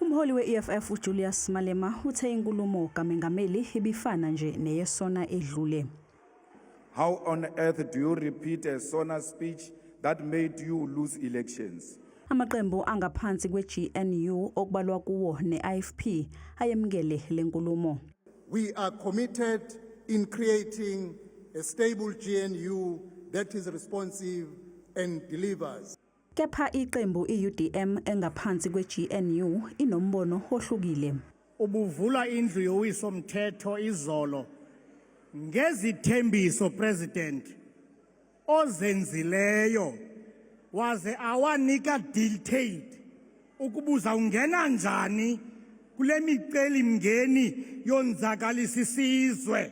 Umholi we-EFF uJulius Malema uthe inkulumo kamengameli ibifana nje neyesona edlule. How on earth do you repeat a sona speech that made you lose elections? Amaqembu angaphansi kwe-GNU okubalwa kuwo ne-IFP ayemukele le nkulumo. We are committed in creating a stable GNU that is responsive and delivers. Kepha iqembu i-UDM engaphansi kwe-GNU inombono ohlukile. Ubuvula indlu yowiso mthetho izolo ngezithembiso president ozenzileyo waze awanika detailed ukubuza ungena njani kule miceli mngeni yonzakalisa isizwe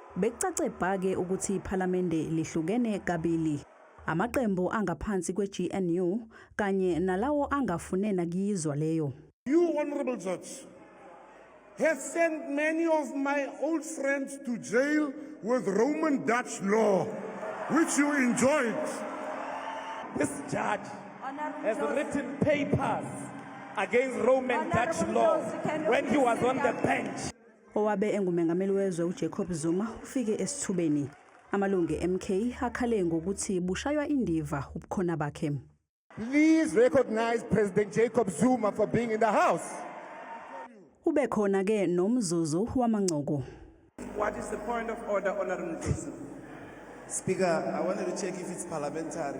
Bekucace bha ke ukuthi iPhalamende lihlukene kabili. Amaqembu angaphansi kweGNU kanye nalawo angafune nakuyizwa leyo. You, Honorable Judge, have sent many of my old friends to jail with Roman Dutch law, which you enjoyed. This judge has written papers against Roman Dutch law when he was on the bench. Owabe engumengameli wezwe uJacob Zuma ufike esithubeni. Amalungu eMK akhale ngokuthi bushaywa indiva ubukhona bakhe. Please recognize President Jacob Zuma for being in the house. Ube khona ke nomzuzu wamancoko. What is the point of order, Honorable Speaker, I wanted to check if it's parliamentary.